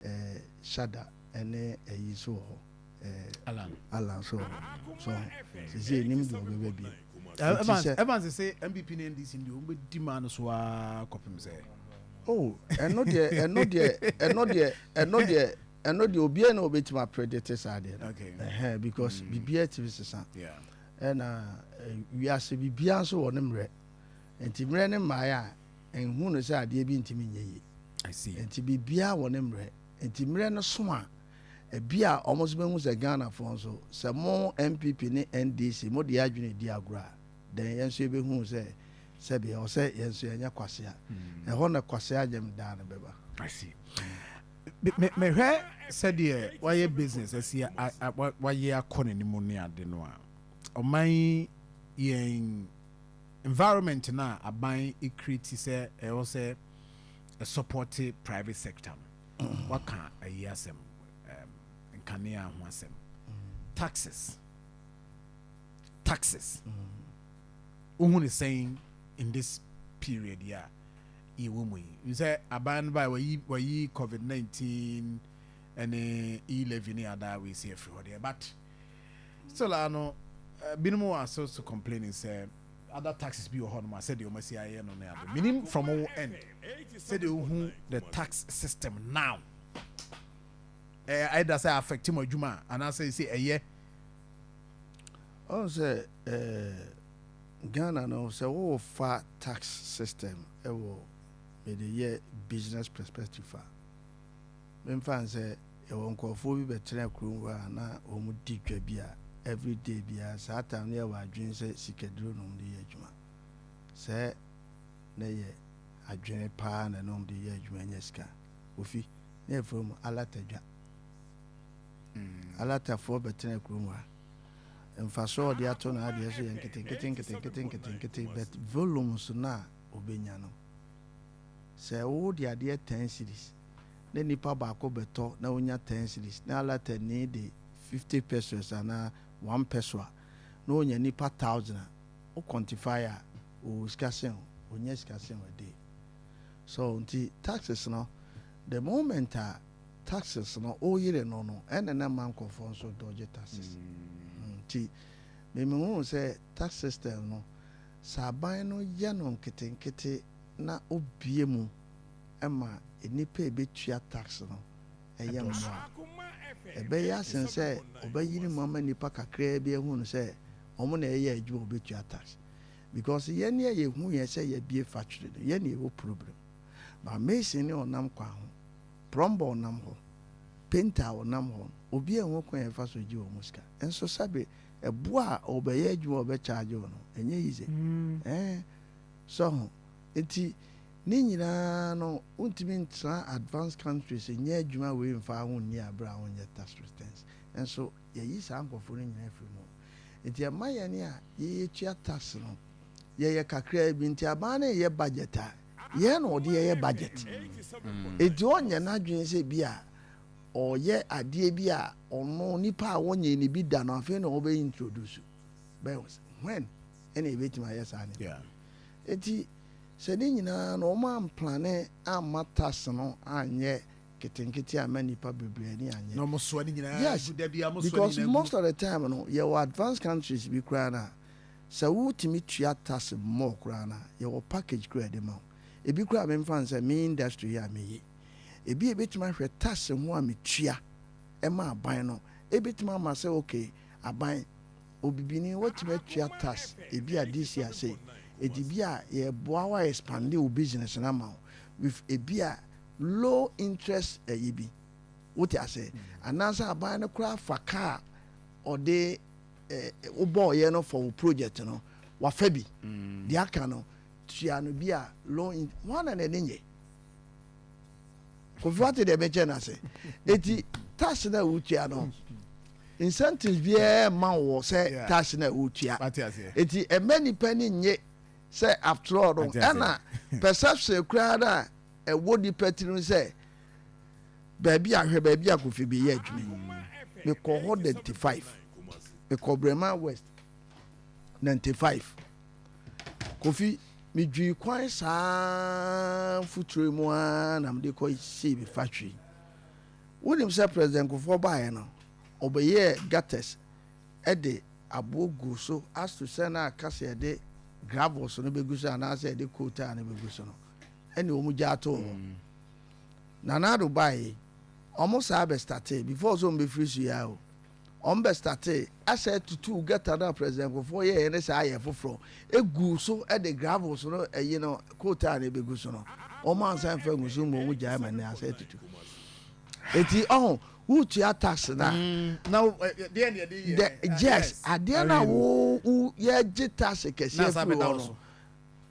Eh, Shada, ɛne ayi nso wɔ hɔ, eh, Allan nso wɔ hɔ. So ho? Seesei nnim deɛ ɔbɛba bio. Eh, Evans, Evans sese NPP ne NDC no deɛ wɔn bɛdi maa no so ara kɔpem sɛ. Oh, ɛno deɛ, ɛno deɛ, ɛno deɛ, ɛno deɛ, ɛno deɛ obiara na ɔbɛtumi apredete saa deɛ no. Okay. Ɛhɛn, eh, because mm. biribiara tumi sesa. Yeah. Ɛna eh, wiase biribiara nso wɔ ne mmerɛ. Enti mmerɛ no mmaeɛ a, nhunu no sɛ adeɛ bi ntumi nyɛ yie. Enti biribiara wɔ ne mmerɛ. Enti mmerɛ no so a, ebi a wɔn nso bɛhu sɛ Ghanafoɔ nso, sɛ mo NPP ne NDC mode yɛn adwene redi agorɔ a, then yɛn nso yɛbɛhu sɛ sɛbe ɛwɔ sɛ yɛn nso yɛnyɛ kwasea. Ɛhɔ na kwasea nyam daa no bɛba. I see. Mehwɛ sɛdeɛ wayɛ business asi wayɛ akɔ n'anim ne ade no a, ɔman yi yɛn. Environment no a aban create sɛ ɛwɔ sɛ ɛ support private sector no, woaka ayi asɛm, ɛɛm, nkanea ho asɛm, taxes, taxes, wohu no sɛn in this period yi a yɛwɔ mu yi? N sɛ aban no bae, wayi, wayi COVID-19 ɛne e-levy ne adaa wei sɛ afiri hɔ deɛ, but Still ara no, binom wɔ ase so complaining sɛ other taxes bi wɔ hɔ nom a sɛdeɛ wɔn asi ayɛ no ne ade. Menim from wo end sɛdeɛ wohu the tax system now, ɛyɛ either sɛ affect mo adwuma a anaasɛ ɛsɛ ɛyɛ. Ɔhu sɛ ɛɛ Ghana no sɛ wo fa tax system ɛwɔ mede yɛ business perspective a, memfa nsɛ. Yɛwɔ nkorɔfoɔ bi bɛtena kurom hɔ a na wɔn di dwa bi a every day biara saa time no yɛ wɔ adwene sɛ sikaduro na wɔn de yɛ adwuma sɛ na yɛ adwene paa na na wɔn de yɛ adwuma nya sika ofi na yɛ frɛ wɔn alata dwa alata foɔ bɛtena kurom hɔ a mfasoɔ ɔde ato na adeɛ so yɛ nketenkete nketenkete nketenkete but volumes no a ɔbɛnya no sɛ wo de adeɛ 10 series na nipa baako bɛtɔ na onya ten cedis, na Alatani de fifty pesewas anaa one pɛsoa, na onya nipa thousand a, wo kɔntifae a, ɔwɔ sika sen wo? Ɔnnya sika sen wo dee. So nti taxes no, the moment a taxes no wo yere no no, ɛna na ɛma nkurɔfoɔ nso dodge taxes. Nti me me hunu sɛ tax system no, sɛ aban no yɛ no nketenkete na obue mu, ma nnipa a ebetua tax no yɛ mmoa. Ɛbɛyɛ asen sɛ ɔbɛyere mu ama nnipa kakraa bi ahu no sɛ wɔn na ɛyɛ adwuma a wɔbetua tax. Because yɛn a yehu yɛn sɛ yɛabue factory no, yɛn na yɛwɔ problem. But mason ne ɔnam kwan ho, plumber ɔnam hɔ, painter a ɔnam hɔ no, obiara nhu kwan a yɛfa so gye wɔn sika. Nso sɛbe ɛbo a ɔrebɛyɛ adwuma a ɔbɛcharge wo no, ɛnyɛ easy. Ɛɛ, so ho? Enti Ne nyinaa no wontumi ntra advanced countries nyɛ adwuma wei mfaa ho nni aberɛ a wonyɛ tax returns nso yɛyi saa nkorɔfoɔ no nyinaa firi mu nti ɛma yɛne a yɛtua tax no yɛyɛ kakraa bi nti aban no reyɛ budget a yɛn na ɔde yɛyɛ budget nti ɔnyɛ n'adwene sɛ bi a ɔyɛ adeɛ bi a ɔno nipa a wɔnyɛ ne bi da no afei na ɔbɛ introduce bɛ when ɛna ɛbɛtumi ayɛ saa ne nti. Sɛ ne nyinaa no wɔamplane amma tas no anyɛ nketenkete amma nnipa bebree ani annye. Na wɔsoa ne nyinaa gu. Yes, da biara mosoa ne because nyinaa gu. most of the time no yɛwɔ advanced countries bi koraa no a, sɛ wotumi tua tas more koraa no a, yɛwɔ package koraa a yɛde ma wo. Ebi koraa a memfa no sɛ me industry yi a meye. Ebi a ebetumi ahwɛ tas ho a metua ma aban no, ebetumi ama sɛ okay, aban, Obibini wotumi atua tax ebi a this year sei edi bi a yɛboa wo a expande wo business no ama wo with ebi a low interest ɛyi bi wote ase anaasɛ aban no koraa fa ka a ɔde ɛɛ wobɔɔyɛ no for wo project no wafa bi deɛ aka no tua no bi a low in wɔn na n'ani nye. Kofi wate deɛ mekyɛ no ase eti tax na wotua no incentives biara mma wɔ sɛ tax na wotua eti ɛmɛ nipa ni nye sɛ after all no ɛna perception koraa na ɛwɔ nipa tirim sɛ baabi ahwɛ baabi a kofi bi yɛ adwuma yi mekɔ hɔ ninety five mekɔ brema west ninety five. Kofi, Midwiri kwan saa mfuturo yi mu ara na mede kɔ sii me factory. Wonim sɛ President Kufuor baeɛ no, ɔbɛyɛɛ gutters de aboɔ guu so ato sɛ na aka sɛ yɛde gravels no bɛgu so anaasɛ yɛde coal tar no bɛgu so no, ɛne wɔn gyaa too hɔ. Nana Addo baeɛ yi, wɔn saa bɛstartee, before sɛ wɔbɛfiri so yi ara o. Wɔn bɛ startee asɛ tutuu gutter no a President Nkurɔfoɔ yɛɛyɛ no saa yɛ foforɔ guu so de gravels no ɛyi no coal tar no bɛgu so no wɔn ansa mfa ngu so mmom wɔn gyae ma no asɛ tutu eti ɔho wo tua tax na na deɛ na yɛde yɛ yes adeɛ na wo wo yɛgye tax kɛseɛ firi hɔ no.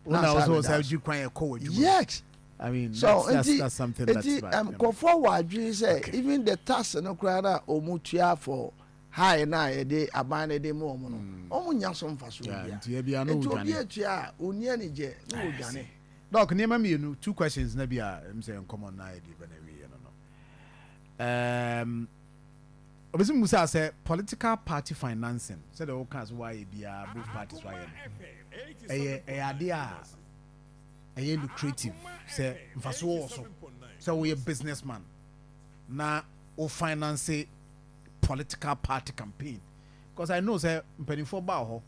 Wona wɔ sɛ wɔ sɛ gye kwan yɛ kɔ wɔ adwuma. Yes. I mean, so that's, that's, nti that's something that's nti bad. um, nkɔfoɔ wɔ adwene sɛ Okay. even the tax no koraa na wɔn tua for high na a yɛde aban no de ma wɔn no wɔn nya so mfasoɔ Yeah, bia nti ebia no nti obi wodwane. atua a ɔni anigye na I wɔdwane see. Doc, nneɛma mmienu, two questions na bi a ɛm sɛ nkɔmmɔ no ayɛ deɛ bɛ na ɛwieɛ no no. Um, Obi so mmusaa sɛ political party financing sɛdeɛ wo kaa sɛ woayɛ biaa both parties wayɛ no ɛyɛ ɛyɛ adeɛ a ɛyɛ lucrative sɛ mfasoɔ wɔ so sɛ woyɛ business man na wo finance political party campaign because I know sɛ mpanimfoɔ baa hɔ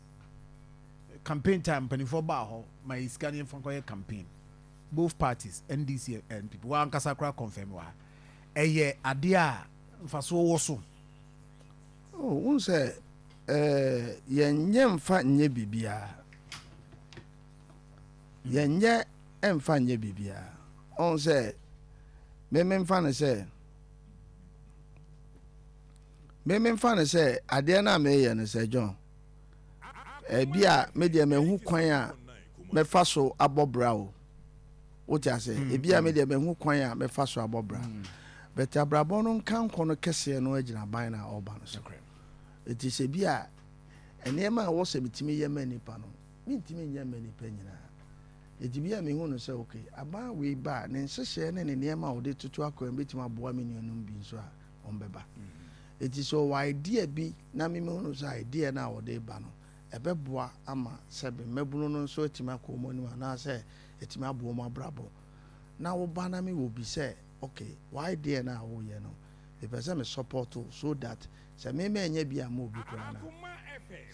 campaign time mpanimfoɔ baa hɔ ma yɛ sika ne yɛmfa nkɔyɛ campaign both parties NDC and NPP wankasa koraa confirm wɔ ha ɛyɛ adeɛ a mfasoɔ wɔ so. Oh, wohu sɛ eh, yɛnyɛ mfa nyɛ biribiara. Yɛnyɛ mfa nyɛ biribiara. Ɔhu sɛ, me memfa no sɛ, me memfa no sɛ adeɛ no a meyɛ no sɛ John, ebi a me deɛ mahu kwan a mɛfa so abɔ bra o. wote ase mm, ebi a me mm. deɛ mahu kwan a mɛfa so abɔ bra mm. but abrabɔ no nka nkɔ no kɛseɛ no agyina ban no a ɔba no so ɛti sɛ bi a nneɛma a ɛwɔ sɛ metumi yɛ ma nnipa no mentumi nyɛ ma nnipa nyinaa ɛti bi a mehu no sɛ ok aban wei ba a ne nhyehyɛɛ ne ne nneɛma a wɔde toto akwan bɛtumi aboa me nuanom bi nso a ɔmbɛba ɛti sɛ ɔwɔ idea bi na memu no sɛ idea no a wɔde ba no ɛbɛboa ama sɛbe mmabunu no nso atumi akɔ wɔn anim anaasɛ atumi aboa wɔn abrabɔ. Na wo ba na me wɔ bi sɛ okay wo idea no a woreyɛ no me pɛ sɛ me support wo so that sɛ me manya bi a ma obi koraa na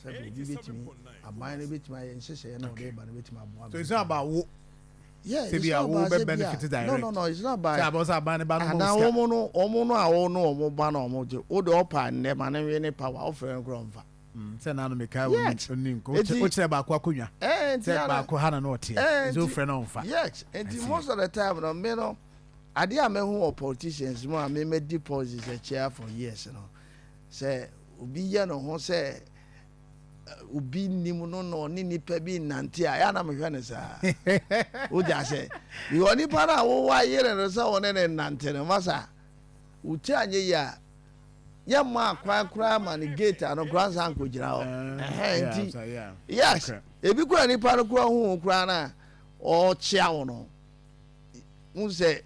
sɛbe obi bɛtumi aban no bɛtumi ayɛ nhyehyɛeɛ na ɔde ba no bɛtumi aboa me. So it's not about wo. Yeah, it's not about sɛ bi a no no no it's not about anaa wɔn no wɔn no a wɔn no wɔn ba na wɔn gye wo de ɔpa nnɛ ma ne nwe ne power wofrɛ no koraa ɔmfa. Sɛ naano mekae wo Yet, no ni nko. enti- Wokyerɛ baako akonnwa Eh, enti sɛ ara- baako ha na na ɔteɛ. Eh, Nti enti- wofrɛ no ɔmfa. Yet, nti Nti- most of the time no, me no, adeɛ a mahu wɔ politicians mu a me madi politics akyia for years no, sɛ obi yɛ ne ho sɛ eh, obi nnim no na ɔne nipa bi nnante a, ɛyɛ a na mehwɛ no saa. Wogya sɛ, because nipa no a wowa yere no sɛ ɔne ne nnante no, masa. Wo ti anyɛ yie a, yɛmmaa kwan koraa ma no gate ano koraa nsan nkɔgyina hɔ. Ɛhɛn nti, yes, ebi koraa nipa no koraa hu wo koraa na ɔkyea wo no, hu sɛ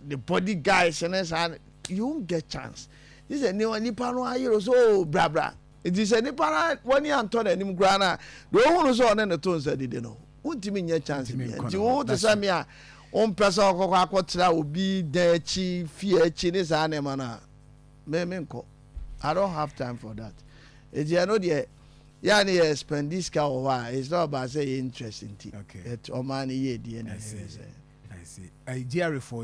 the body guys ne saa no, you won't get chance. Gye sɛ nipa no ayere wo sɛ oo oh, brabra. Nti sɛ nipa no w'ani antɔ n'anim koraa no a, deɛ ɔhu no sɛ ɔne no to nsa didi no, wontumi nyɛ chance bi nti wo te sɛ me a wompɛ sɛ ɔkɔkɔ akɔtra obi dan akyi fie akyi ne saa nneɛma no a me menkɔ I don't have time for that ɛti ɛno deɛ yɛ ne yɛ spend this car wɔ hɔ a it's not about sɛ yɛ interest nti ɔmaa no yɛ die na ɛyɛ sɛ I see. I GRA for